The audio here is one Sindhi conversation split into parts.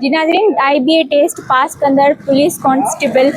جي ناظرين I B A test pass ڪندڙ پوليس ڪانسٽيبل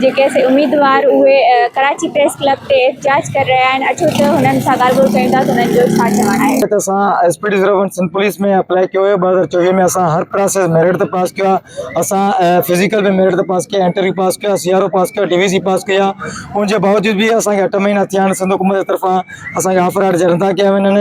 جيڪي اسين اميدوار اهي ڪراچي پريس ڪلب تي احتجاج ڪري رهيا آهن اچو ته هنن سان ڳالهه ٻولهه ڪيون ٿا ته هنن جو ڇا چوڻ آهي. ته اسان S P T zero one Sindh police ۾ apply ڪيو هيو ٻه هزار چوويهه ۾ اسان هر پراسيس ميرٽ تي پاس ڪيو آهي اسان فزيڪل به ميرٽ تي پاس ڪيو انٽرويو پاس ڪيو سي آر او پاس ڪيو ڊي وي سي پاس ڪئي آهي ان جي باوجود به اسان کي اٺ مهينا ٿيا آهن سنڌ حڪومت جي طرفان اسان کي آفر آرڊر جاري نٿا ڪيا وڃن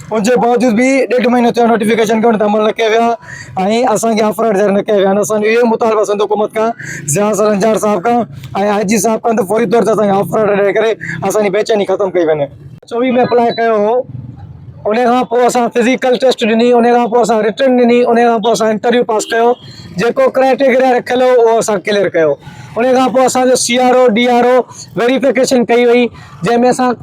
ان جي باوجود به ڏيڍ مهينو ٿيو نوٽيفڪيشن کي ان تي عمل نه ڪيو ويو آهي ۽ اسان کي آفر ليٽر نه ڪيا ويا آهن اسان جو اهو مطالبو سنڌ حڪومت کان ضياء سرنجار صاحب کان ۽ آء جي صاحب کان ته فوري طور تي اسان کي آفر ليٽر ڏيئي ڪري اسان جي بيچيني ختم ڪئي وڃي. چوي ۾ اپلاء ڪيو هو ان کان پوء اسان فزيڪل ٽيسٽ ڏني ان کان پوء اسان رٽن ڏني ان کان پوء اسان انٽرويو پاس ڪيو جيڪو ڪرائيٽيگريا رکيل هو اهو اسان ڪليئر ڪيو ان کان پوء اسان جو C R O D R O verification ڪئي وئي جنهن ۾ اسان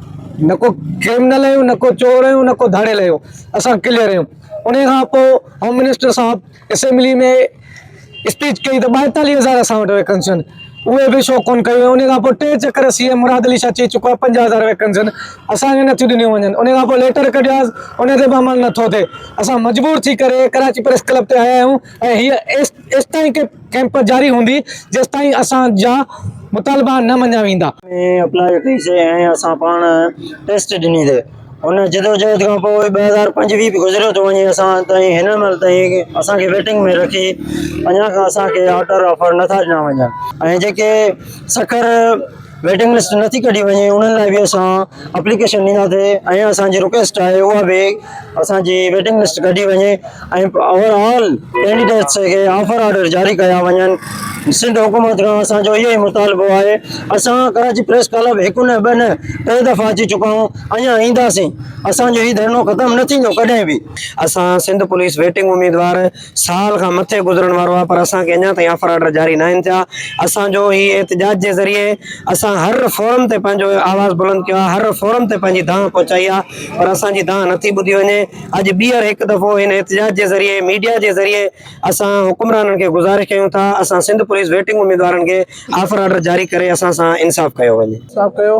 نه ڪو ڪرمنل آهيون نه ڪو چور آهيون نه ڪو ڌاڙيل آهيون اسان ڪليئر آهيون انهي کان پوء هوم منسٽر صاحب اسيمبلي ۾ اسپيچ ڪئي ته ٻائيتاليهه هزار اسان وٽ ويڪنسيون اهي به شو ڪونه ڪيون انهي کان پوء ٽي چڪر سي ايم مراد علي شاهه چئي چڪو آهي پنجاهه هزار ويڪنسيون اسان کي نٿيون ڏنيون وڃن انهي کان پوء ليٽر ڪڍياس انهي تي به عمل نٿو ٿئي اسان مجبور ٿي ڪري ڪراچي پريس ڪلب تي آيا آهيون ۽ هيء ايستائين ڪيمپ جاري هوندي جيستائين اسان جا مطالبا نه مڃيا ويندا. ۾ اپلائي ڪئي سي ۽ اسان پاڻ ٽيسٽ ڏني سي. ان جدوجهد کان پوء ٻه هزار پنجويهه به گذريو ٿو وڃي اسان تائين هن مهل تائين اسان کي ويٽنگ ۾ رکي اڃا کان اسان کي آرڊر آفر نه ٿا ڏنا وڃن ۽ جيڪي سکر ويٽنگ لسٽ نه ٿي ڪڍي وڃي انهن لاء به اسان اپليڪيشن ڏينداسي ۽ اسان جي رڪويسٽ آهي اها به اسان جي ويٽنگ لسٽ ڪڍي وڃي ۽ اوور آل ڪينڊيڊيٽس کي آفر آرڊر جاري ڪيا وڃن سنڌ حڪومت کان اسان جو اهو ئي مطالبو آهي اسان ڪراچي پريس ڪلب هڪ نه ٻه نه ٽي دفعا اچي چڪا آهيون اڃا اينداسين اسان جو هي ڌرڻو ختم نه ٿيندو ڪڏهن به اسان سنڌ پوليس ويٽنگ اميدوار سال کان مٿي گذرڻ وارو آهي پر اسان کي اڃا تائين آفر آرڊر جاري ناهن ٿيا اسان جو هي احتجاج جي ذريعي اسان هر فورم تي پنهنجو آواز بلند ڪيو آهي هر فورم تي پنهنجي دانهن پهچائي آهي پر اسان جي دانهن نٿي ٻڌي وڃي اڄ ٻيهر هڪ دفعو هن احتجاج جي ذريعي ميڊيا جي ذريعي اسان حڪمرانن کي گذارش ڪيون ٿا اسان سنڌ پوليس ويٽنگ اميدوارن کي آفر آرڊر جاري ڪري اسان سان انصاف ڪيو وڃي انصاف ڪيو